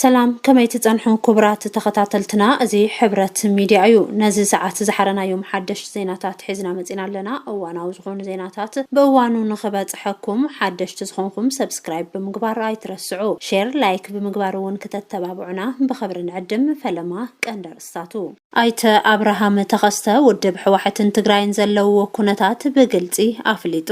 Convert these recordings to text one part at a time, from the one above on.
ሰላም ከመይ ትጸንሑ ኩቡራት ተኸታተልትና እዚ ሕብረት ሚድያ እዩ ነዚ ሰዓት ዝሓረናዮም ሓደሽት ዜናታት ሒዝና መጺና ኣለና እዋናዊ ዝኾኑ ዜናታት ብእዋኑ ንኽበጽሐኩም ሓደሽቲ ዝኾንኹም ሰብስክራይብ ብምግባር ኣይትረስዑ ሼር ላይክ ብምግባር እውን ክተተባብዑና ብኽብሪ ንዕድም ፈለማ ቀንዲ ኣርእስታቱ ኣይተ ኣብርሃም ተኸስተ ውድብ ሕዋሕትን ትግራይን ዘለውዎ ኩነታት ብግልጺ ኣፍሊጡ።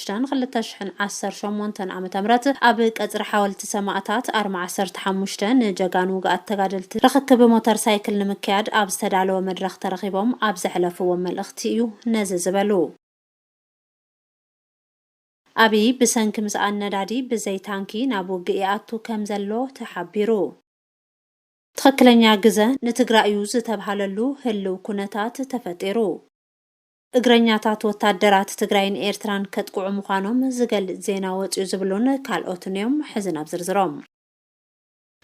ሽዳን ክልተ ሽሕን ዓሰርተ ሸሞንተን ዓመተ ምህረት ኣብ ቀጽሪ ሓወልቲ ሰማእታት ኣርማ ዓሰርተ ሓሙሽተ ንጀጋኑ ውጉኣት ተጋደልቲ ርኽክብ ሞተር ሳይክል ንምክያድ ኣብ ዝተዳለወ መድረኽ ተረኺቦም ኣብ ዘሕለፍዎ መልእኽቲ እዩ ነዚ ዝበሉ። ኣብይ ብሰንኪ ምስኣን ነዳዲ ብዘይ ታንኪ ናብ ውግእ ይኣቱ ከም ዘሎ ተሓቢሩ። ትኽክለኛ ግዘ ንትግራይ እዩ ዝተብሃለሉ ህልው ኩነታት ተፈጢሩ። እግረኛታት ወታደራት ትግራይን ኤርትራን ከጥቅዑ ምዃኖም ዝገልፅ ዜና ወፅዩ ዝብሉን ካልኦትን እዮም። ሕዚ ናብ ዝርዝሮም።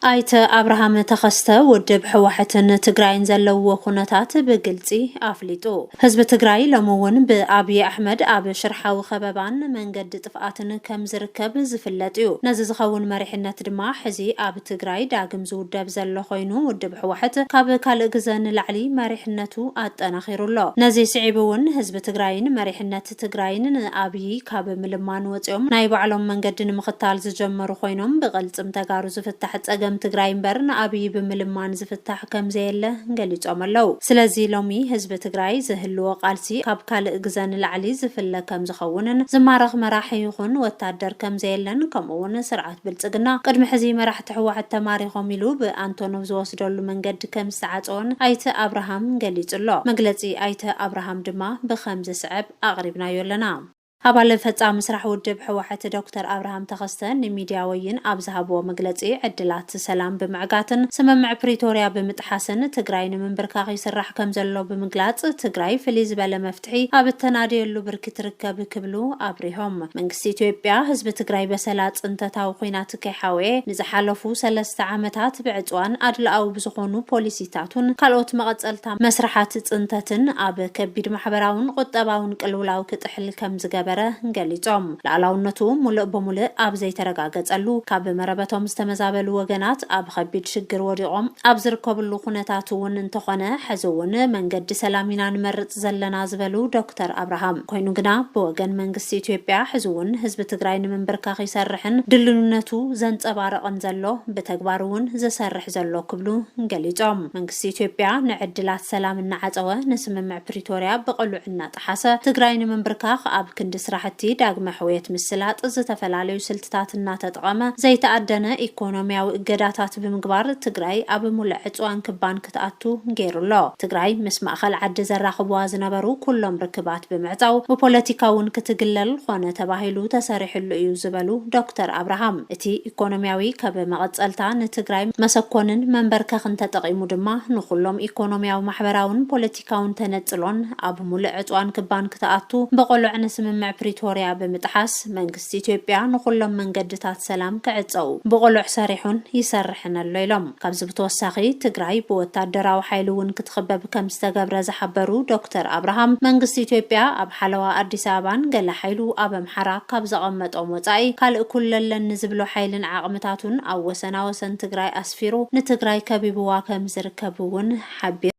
ኣይተ ኣብርሃም ተኸስተ ውድብ ሕዋሕትን ትግራይን ዘለውዎ ኩነታት ብግልፂ ኣፍሊጡ። ህዝቢ ትግራይ ሎሚ እውን ብኣብዪ ኣሕመድ ኣብ ሽርሓዊ ከበባን መንገዲ ጥፍኣትን ከምዝርከብ ዝፍለጥ እዩ። ነዚ ዝኸውን መሪሕነት ድማ ሕዚ ኣብ። ትግራይ ዳግም ዝውደብ ዘሎ ኮይኑ ውድብ ሕዋሕት ካብ ካልእ ግዘ ንላዕሊ መሪሕነቱ ኣጠናኺሩ ኣሎ። ነዚ ስዒቡ እውን ህዝቢ ትግራይን መሪሕነት ትግራይን ንኣብዪ ካብ ምልማን ወፂኦም ናይ ባዕሎም መንገዲ ንምኽታል ዝጀመሩ ኮይኖም ብቕልፅም ተጋሩ ዝፍታሕ ፀገም ትግራይ እምበር ንኣብዪ ብምልማን ዝፍታሕ ከምዘየለ ገሊፆም ኣለው። ስለዚ ሎሚ ህዝቢ ትግራይ ዝህልዎ ቃልሲ ካብ ካልእ ግዘ ንላዕሊ ዝፍለ ከምዝኸውንን ዝማረኽ መራሒ ይኹን ወታደር ከምዘየለን ከምኡ እውን ስርዓት ብልፅግና ቅድሚ ሕዚ መራሕቲ ህወሓት ተማሪኾም ኢሉ ብኣንቶኖቭ ዝወስደሉ መንገዲ ከምዝተዓፀወን ኣይተ ኣብርሃም ገሊፁ ኣሎ። መግለፂ ኣይተ ኣብርሃም ድማ ብኸምዚ ዝስዕብ ኣቕሪብናዮ ኣለና። ኣባል ፈፃሚ ስራሕ ውድብ ህወሓት ዶክተር ኣብርሃም ተኸስተ ንሚድያ ወይን ኣብ ዝሃብዎ መግለፂ ዕድላት ሰላም ብምዕጋትን ስምምዕ ፕሪቶርያ ብምጥሓስን ትግራይ ንምንብርካኽ ይስራሕ ከምዘሎ ብምግላፅ ትግራይ ፍልይ ዝበለ ፍትሒ ኣብ እተናድየሉ ብርኪ ትርከብ ክብሉ ኣብሪሆም። መንግስቲ ኢትዮጵያ ህዝቢ ትግራይ በሰላ ፅንተታዊ ኹናት ከይሓወየ ንዝሓለፉ ሰለስተ ዓመታት ብዕፅዋን ኣድልኣዊ ብዝኾኑ ፖሊሲታቱን ካልኦት መቐፀልታ መስርሓት ፅንተትን ኣብ ከቢድ ማሕበራውን ቑጠባውን ቅልውላው ክጥሕል ከምዝገበረ ገሊፆም። ልኣላውነቱ ሙልእ ብሙልእ ኣብ ዘይተረጋገጸሉ፣ ካብ መረበቶም ዝተመዛበሉ ወገናት ኣብ ኸቢድ ሽግር ወዲቖም ኣብ ዝርከብሉ ኩነታት እውን እንተኾነ ሕዚ እውን መንገዲ ሰላም ኢና ንመርጽ ዘለና ዝበሉ ዶክተር ኣብርሃም ኮይኑ ግና ብወገን መንግስቲ ኢትዮጵያ ሕዚ እውን ህዝቢ ትግራይ ንምንብርካኽ ይሰርሕን ድልኑነቱ ዘንጸባርቕን ዘሎ ብተግባር እውን ዝሰርሕ ዘሎ ክብሉ ገሊጾም። መንግስቲ ኢትዮጵያ ንዕድላት ሰላም እናዓጸወ ንስምምዕ ፕሪቶርያ ብቕሉዕ እናጠ። እናጠሓሰ ትግራይ ንምንብርካኽ ኣብ ክንዲ ስራሕቲ ዳግመ ሕውየት ምስላጥ ዝተፈላለዩ ስልትታት እናተጠቐመ ዘይተኣደነ ኢኮኖሚያዊ እገዳታት ብምግባር ትግራይ ኣብ ሙልዕ ዕፅዋን ክባን ክትኣቱ ገይሩ ኣሎ። ትግራይ ምስ ማእኸል ዓዲ ዘራኽቡዋ ዝነበሩ ኩሎም ርክባት ብምዕፃው ብፖለቲካ እውን ክትግለል ኾነ ተባሂሉ ተሰሪሕሉ እዩ ዝበሉ ዶክተር ኣብርሃም እቲ ኢኮኖሚያዊ ከብ መቐፀልታ ንትግራይ መሰኮንን መንበርከኽን ተጠቒሙ ድማ ንኹሎም ኢኮኖሚያዊ ማሕበራውን ፖለቲካውን ፖለቲካውን ተነጽሎን ኣብ ሙልእ ዕጽዋን ክባን ክትኣቱ ብቕሉዕ ንስምምዕ ፕሪቶርያ ብምጥሓስ መንግስቲ ኢትዮጵያ ንኹሎም መንገድታት ሰላም ክዕጸው ብቕሉዕ ሰሪሑን ይሰርሕን ኣሎ ኢሎም። ካብዚ ብተወሳኺ ትግራይ ብወታደራዊ ሓይሊ እውን ክትኽበብ ከምዝተገብረ ዝሓበሩ ዶክተር ኣብርሃም መንግስቲ ኢትዮጵያ ኣብ ሓለዋ ኣዲስ ኣበባን ገለ ሓይሉ ኣብ ኣምሓራ ካብ ዘቐመጦም ወጻኢ ካልእ ኩለ ኣለኒ ዝብሎ ሓይልን ዓቕምታቱን ኣብ ወሰናወሰን ትግራይ ኣስፊሩ ንትግራይ ከቢብዋ ከምዝርከብ እውን ሓቢሮም።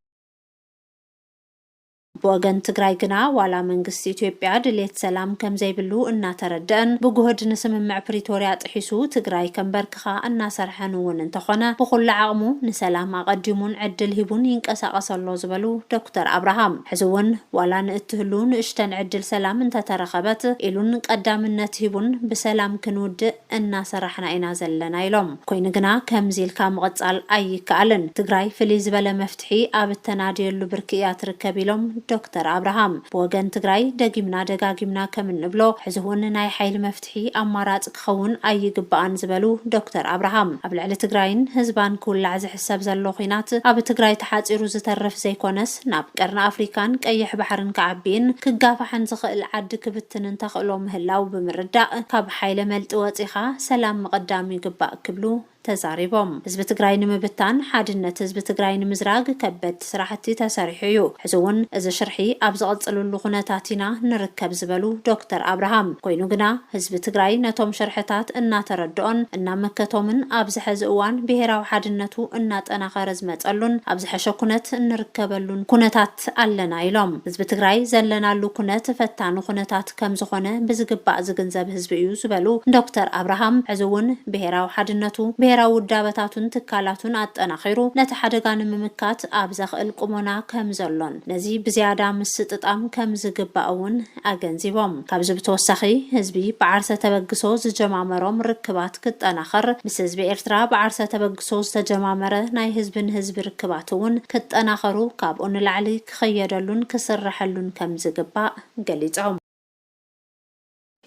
ብወገን ትግራይ ግና ዋላ መንግስቲ ኢትዮጵያ ድሌት ሰላም ከምዘይብሉ እናተረደኣን ብጉህድ ንስምምዕ ፕሪቶርያ ጥሒሱ ትግራይ ከምበርክኻ እናሰርሐን እውን እንተኾነ ብኹሉ ዓቕሙ ንሰላም ኣቐዲሙን ዕድል ሂቡን ይንቀሳቐስ ኣሎ ዝበሉ ዶክተር ኣብርሃም ሕዚ እውን ዋላ ንእትህሉ ንእሽተን ዕድል ሰላም እንተተረኸበት ኢሉን ቀዳምነት ሂቡን ብሰላም ክንውድእ እናሰራሕና ኢና ዘለና ኢሎም። ኮይኑ ግና ከምዚ ኢልካ ምቕፃል ኣይከኣልን። ትግራይ ፍልይ ዝበለ መፍትሒ ኣብ እተናድየሉ ብርኪ እያ ትርከብ ኢሎም ዶክተር ኣብርሃም። ብወገን ትግራይ ደጊምና ደጋጊምና ከም እንብሎ ሕዚ እውን ናይ ሓይሊ መፍትሒ ኣማራፂ ክኸውን ኣይግባእን ዝበሉ ዶክተር ኣብርሃም ኣብ ልዕሊ ትግራይን ህዝባን ክውላዕ ዝሕሰብ ዘሎ ኹናት ኣብ ትግራይ ተሓፂሩ ዝተርፍ ዘይኮነስ ናብ ቀርኒ ኣፍሪካን ቀይሕ ባሕርን ክዓቢን ክጋፋሕን ዝኽእል ዓዲ ክብትንን ተኽእሎ ምህላው ብምርዳእ ካብ ሓይለ መልጢ ወፂኻ ሰላም ምቕዳም ይግባእ ክብሉ ተዛሪቦም። ህዝቢ ትግራይ ንምብታን ሓድነት ህዝቢ ትግራይ ንምዝራግ ከበድቲ ስራሕቲ ተሰሪሑ እዩ፣ ሕዚ እውን እዚ ሽርሒ ኣብ ዝቕፅልሉ ኩነታት ኢና ንርከብ ዝበሉ ዶክተር ኣብርሃም ኮይኑ ግና ህዝቢ ትግራይ ነቶም ሽርሕታት እናተረደኦን እናመከቶምን ኣብዚ ሐዚ እዋን ብሄራዊ ሓድነቱ እናጠናኸረ ዝመፀሉን ኣብ ዝሐሸ ኩነት እንርከበሉን ኩነታት ስግኣት ኣለና ኢሎም። ህዝቢ ትግራይ ዘለናሉ ኩነት ፈታኒ ኩነታት ከምዝኾነ ብዝግባእ ዝግንዘብ ህዝቢ እዩ ዝበሉ ዶክተር ኣብርሃም፣ ሕዚ እውን ብሄራዊ ሓድነቱ፣ ብሄራዊ ውዳበታቱን ትካላቱን ኣጠናኺሩ ነቲ ሓደጋ ንምምካት ኣብ ዘኽእል ቁሞና ከምዘሎን ነዚ ብዝያዳ ምስጥጣም ከምዝግባእ እውን ኣገንዚቦም። ካብዚ ብተወሳኺ ህዝቢ ብዓርሰ ተበግሶ ዝጀማመሮም ርክባት ክጠናኸር፣ ምስ ህዝቢ ኤርትራ ብዓርሰ ተበግሶ ዝተጀማመረ ናይ ህዝቢ ንህዝቢ ርክባት እውን ክጠናኸሩ ካብኡ ንላዕሊ ክኸየደሉን ክስረሐሉን ከምዝግባእ ገሊፆም።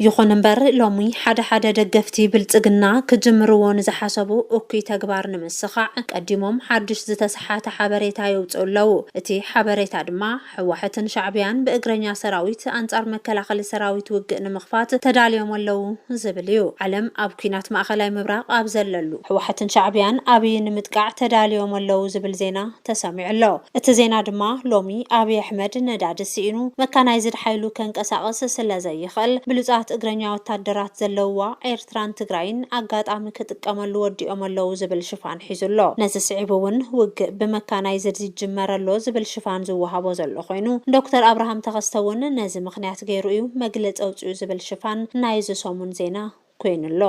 ይኹን እምበር ሎሚ ሓደ ሓደ ደገፍቲ ብልፅግና ክጅምርዎ ንዝሓሰቡ እኩይ ተግባር ንምስኻዕ ቀዲሞም ሓዱሽ ዝተሰሓተ ሓበሬታ የውፅኡ ኣለው። እቲ ሓበሬታ ድማ ሕዋሕትን ሻዕብያን ብእግረኛ ሰራዊት ኣንጻር መከላኸሊ ሰራዊት ውግእ ንምኽፋት ተዳልዮም ኣለዉ ዝብል እዩ። ዓለም ኣብ ኩናት ማእኸላይ ምብራቕ ኣብ ዘለሉ፣ ሕዋሕትን ሻዕብያን ኣብይ ንምጥቃዕ ተዳልዮም ኣለዉ ዝብል ዜና ተሰሚዑ ኣሎ። እቲ ዜና ድማ ሎሚ ኣብይ ኣሕመድ ነዳዲ ስኢኑ መካናይዝድ ሓይሉ ከንቀሳቕስ ስለዘይኽእል ብሉጻት እግረኛ ወታደራት ዘለዉዋ ኤርትራን ትግራይን ኣጋጣሚ ክጥቀመሉ ወዲኦም ኣለዉ ዝብል ሽፋን ሒዙ ኣሎ። ነዚ ስዒቡ እውን ውግእ ብመካናይዝድ ይጅመር ኣሎ ዝብል ሽፋን ዝወሃቦ ዘሎ ኮይኑ፣ ዶክተር ኣብርሃም ተኸስተ እውን ነዚ ምኽንያት ገይሩ እዩ መግለፂ ኣውፂኡ ዝብል ሽፋን ናይ እዚ ሰሙን ዜና ኮይኑ ኣሎ።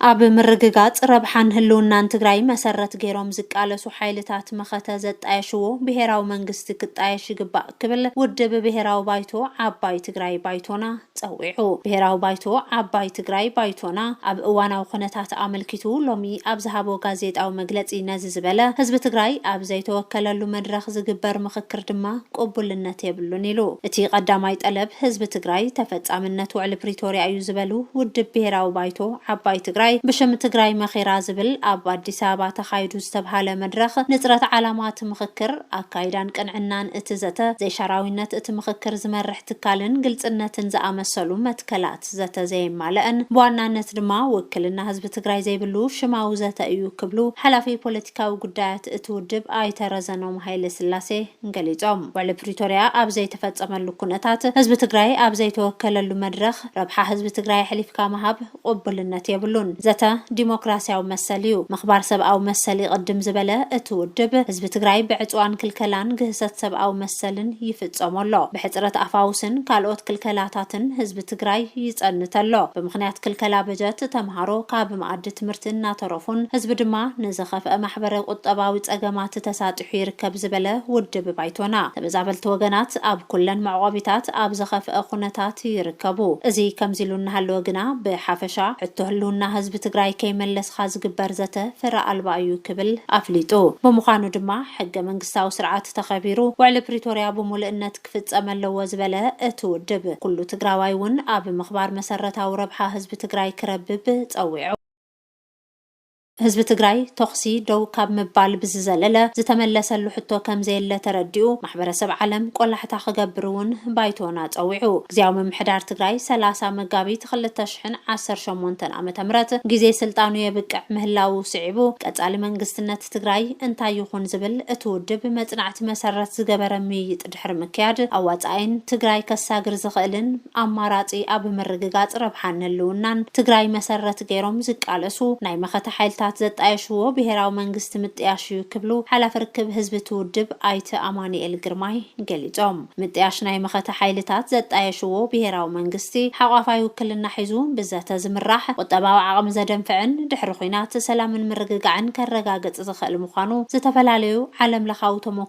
ኣብ ምርግጋፅ ረብሓን ህልውናን ትግራይ መሰረት ገይሮም ዝቃለሱ ሓይልታት መኸተ ዘጣየሽዎ ብሄራዊ መንግስቲ ክጣየሽ ይግባእ ክብል ውድብ ብሄራዊ ባይቶ ዓባይ ትግራይ፣ ባይቶና፣ ፀዊዑ። ብሄራዊ ባይቶ ዓባይ ትግራይ፣ ባይቶና፣ ኣብ እዋናዊ ኩነታት ኣመልኪቱ ሎሚ ኣብ ዝሃቦ ጋዜጣዊ መግለፂ ነዚ ዝበለ ህዝቢ ትግራይ ኣብ ዘይተወከለሉ መድረኽ ዝግበር ምኽክር ድማ ቅቡልነት የብሉን ኢሉ። እቲ ቀዳማይ ጠለብ ህዝቢ ትግራይ ተፈፃምነት ውዕሊ ፕሪቶርያ እዩ ዝበሉ ውድብ ብሄራዊ ባይቶ ዓባይ ትግራይ ብሽም ትግራይ መኺራ ዝብል ኣብ ኣዲስ ኣበባ ተኻይዱ ዝተብሃለ መድረኽ ንፅረት ዓላማ እቲ ምኽክር፣ ኣካይዳን ቅንዕናን እቲ ዘተ፣ ዘይሻራዊነት እቲ ምኽክር ዝመርሕ ትካልን ግልፅነትን ዝኣመሰሉ መትከላት ዘተ ዘየማለእን ብዋናነት ድማ ውክልና ህዝቢ ትግራይ ዘይብሉ ሽማዊ ዘተ እዩ ክብሉ ሓላፊ ፖለቲካዊ ጉዳያት እቲ ውድብ ኣይተ ረዘኖም ሃይለስላሴ ገሊፆም። ውዕሊ ፕሪቶሪያ ኣብ ዘይተፈፀመሉ ኩነታት ህዝቢ ትግራይ ኣብ ዘይተወከለሉ መድረኽ ረብሓ ህዝቢ ትግራይ ኣሕሊፍካ ምሃብ፣ ቕቡልነት የብሉን። ዘተ ዲሞክራሲያዊ መሰል እዩ። ምኽባር ሰብኣዊ መሰል ይቕድም ዝበለ እቲ ውድብ፣ ህዝቢ ትግራይ ብዕፅዋን ክልከላን ግህሰት ሰብኣዊ መሰልን ይፍፀሞ ኣሎ። ብሕፅረት ኣፋውስን ካልኦት ክልከላታትን ህዝቢ ትግራይ ይፀንት ኣሎ። ብምኽንያት ክልከላ በጀት ተምሃሮ ካብ መኣዲ ትምህርቲ እናተረፉን ህዝቢ ድማ ንዝኸፍአ ማሕበረ ቁጠባዊ ፀገማት ተሳጢሑ በጺሑ ይርከብ ዝበለ ውድብ ባይቶና፣ ተመዛበልቲ ወገናት ኣብ ኩለን መዕቖቢታት ኣብ ዝኸፍኣ ኩነታት ይርከቡ። እዚ ከምዚ ኢሉ እናሃለወ ግና ብሓፈሻ ሕቶ ህልውና ህዝቢ ትግራይ ከይመለስኻ ዝግበር ዘተ ፍረ ኣልባ እዩ ክብል ኣፍሊጡ። ብምዃኑ ድማ ሕገ መንግስታዊ ስርዓት ተኸቢሩ ውዕሊ ፕሪቶርያ ብሙሉእነት ክፍፀም ኣለዎ ዝበለ እቲ ውድብ፣ ኩሉ ትግራዋይ እውን ኣብ ምኽባር መሰረታዊ ረብሓ ህዝቢ ትግራይ ክረብብ ፀዊዑ። ህዝቢ ትግራይ ቶኽሲ ደው ካብ ምባል ብዝዘለለ ዝተመለሰሉ ሕቶ ከምዘየለ ተረዲኡ ማሕበረሰብ ዓለም ቆላሕታ ክገብር እውን ባይቶና ፀዊዑ። ግዝያዊ ምምሕዳር ትግራይ ሰላሳ መጋቢት ክልተ ሽሕን ዓሰርተ ሸሞንተን ዓመተ ምህረት ግዜ ስልጣኑ የብቅዕ ምህላዉ ስዒቡ ቀፃሊ መንግስትነት ትግራይ እንታይ ይኹን ዝብል እቲ ውድብ መፅናዕቲ መሰረት ዝገበረ ምይይጥ ድሕሪ ምክያድ ኣዋፃኣይን ትግራይ ከሳግር ዝኽእልን ኣማራፂ ኣብ ምርግጋፅ ረብሓን ህልውናን ትግራይ መሰረት ገይሮም ዝቃለሱ ናይ መኸተ ሓይልታት ዘጣየሽዎ ብሄራዊ መንግስቲ ምጥያሽ እዩ ክብሉ ሓላፊ ርክብ ህዝቢ እቲ ውድብ ኣይተ ኣማኒኤል ግርማይ ገሊፆም። ምጥያሽ ናይ መኸተ ሓይልታት ዘጣየሽዎ ብሄራዊ መንግስቲ ሓቋፋይ ውክልና ሒዙ ብዘተ ዝምራሕ፣ ቁጠባዊ ዓቕሚ ዘደንፍዕን ድሕሪ ኹናት ሰላምን ምርግጋዕን ከረጋግፅ ዝኽእል ምዃኑ ዝተፈላለዩ ዓለም ለኻዊ ተሞኩሮ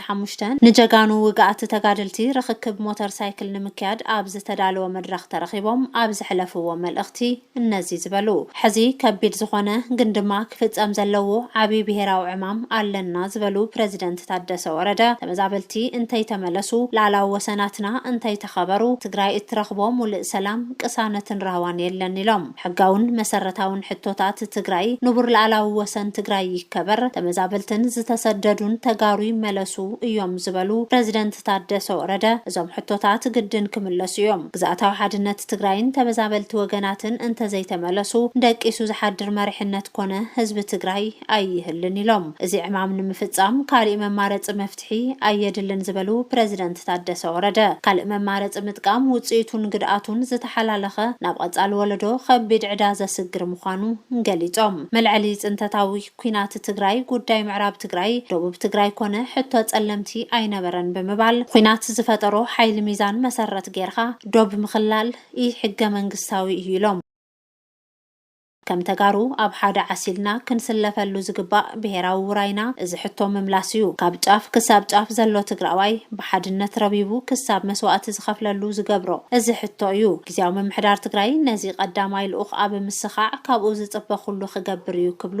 ዓሰርተ ሓሙሽተ፣ ንጀጋኑ ውግኣት ተጋደልቲ ርኽክብ ሞተር ሳይክል ንምክያድ ኣብ ዝተዳለወ መድረኽ ተረኺቦም ኣብ ዘሕለፍዎ መልእኽቲ እነዚ ዝበሉ ሕዚ ከቢድ ዝኾነ ግን ድማ ክፍፀም ዘለዎ ዓብዪ ብሄራዊ ዕማም ኣለና ዝበሉ ፕረዚደንት ታደሰ ወረደ ተመዛበልቲ እንተይተመለሱ፣ ልኣላዊ ወሰናትና እንተይተኸበሩ ትግራይ እትረኽቦ ሙልእ ሰላም፣ ቅሳነትን ራህዋን የለን ኢሎም። ሕጋውን መሰረታውን ሕቶታት ትግራይ፣ ንቡር ልኣላዊ ወሰን ትግራይ ይከበር፣ ተመዛበልትን ዝተሰደዱን ተጋሩ ይመለሱ እዮም ዝበሉ ፕረዚደንት ታደሰ ወረደ፣ እዞም ሕቶታት ግድን ክምለሱ እዮም። ግዝኣታዊ ሓድነት ትግራይን ተመዛበልቲ ወገናትን እንተዘይተመለሱ ደቂሱ ዝሓድር መሪሕነት ኮነ ህዝቢ ትግራይ ኣይህልን ኢሎም። እዚ ዕማም ንምፍፃም ካሊእ መማረፂ መፍትሒ ፍትሒ ኣየድልን ዝበሉ ፕረዚደንት ታደሰ ወረደ፣ ካልእ መማረፂ ምጥቃም ውፅኢቱን ግድኣቱን ዝተሓላለኸ ናብ ቐፃሊ ወለዶ ኸቢድ ዕዳ ዘስግር ምዃኑ ገሊፆም። መልዐሊ ፅንተታዊ ኲናት ትግራይ ጉዳይ ምዕራብ ትግራይ፣ ደቡብ ትግራይ ኮነ ሕቶ ፀለምቲ ኣይነበረን ብምባል ዂናት ዝፈጠሮ ሓይሊ ሚዛን መሰረት ገይርኻ ዶብ ምኽላል ኢ-ሕገመንግስታዊ እዩ ኢሎም። ከም ተጋሩ ኣብ ሓደ ዓሲልና ክንስለፈሉ ዝግባእ ብሄራዊ ውራይና እዚ ሕቶ ምምላስ እዩ። ካብ ጫፍ ክሳብ ጫፍ ዘሎ ትግራዋይ ብሓድነት ረቢቡ ክሳብ መስዋእቲ ዝኸፍለሉ ዝገብሮ እዚ ሕቶ እዩ። ጊዚያዊ ምምሕዳር ትግራይ ነዚ ቀዳማይ ልኡኽ ኣብ ምስኻዕ ካብኡ ዝፅበ ኩሉ ክገብር እዩ ክብሉ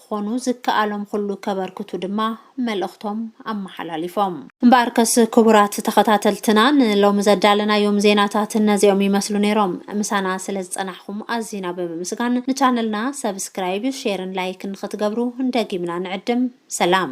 ክኾኑ ዝከኣሎም ኹሉ ከበርክቱ ድማ መልእኽቶም ኣመሓላሊፎም። እምበኣርከስ ክቡራት ተኸታተልትና ንሎሚ ዘዳለናዮም ዜናታት እነዚኦም ይመስሉ ነይሮም። ምሳና ስለ ዝፀናሕኹም ኣዚና ብምምስጋን ንቻነልና ሰብስክራይብ፣ ሼርን ላይክን ኽትገብሩ ደጊምና ንዕድም። ሰላም!